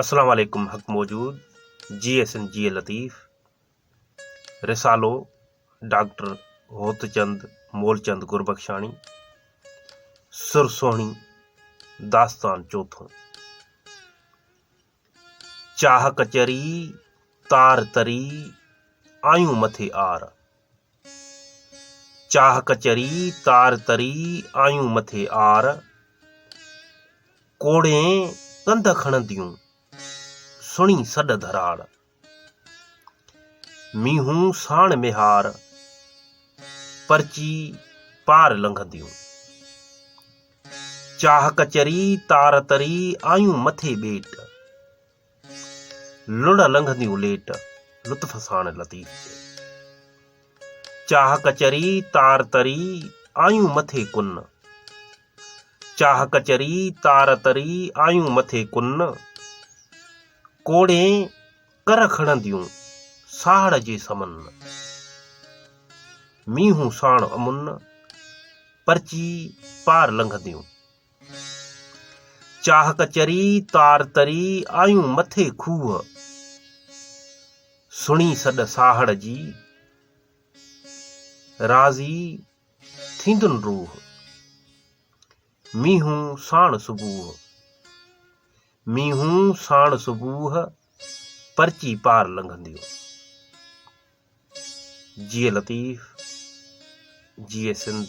اسلام عليڪم حق موجود جي ايس اين جي اي لطيف رسالو ڊاڪٽر هوتچند مولچند گربخشاڻي سر سهڻي داستان چوٿو چاهه ڪچري تار تري آيون مٿي آر چاهه ڪچري تار تري آيون مٿي آر، ڪوڙين ڪنڌ کڻنديون سڻي سڏ ڌراڙ، مينهون ساڻ ميهار پرچي پار لنگهنديون. چاهه ڪچري تار تري آيون مٿي ٻيٽ، لڙهه لنگهندي اليٽ لطف ساڻ لطيف چئي. چاهه ڪچري تار تري آيون مٿي ڪن. چاهه ڪچري تار تري آيون مٿي ڪن. ڪوڙين ڪر کڻنديون ساهڙ جي سمن. مينهون ساڻ امن پرچي پار لنگهنديون. چاهه ڪچري تار تري آيون مٿي کوهه، سڻي سڏ ساهڙ جي راضي ٿيندن روح، مينهون ساڻ صبوح مينهون ساڻ صبوح پرچي پار لنگهنديون جي لطيف جي سنڌ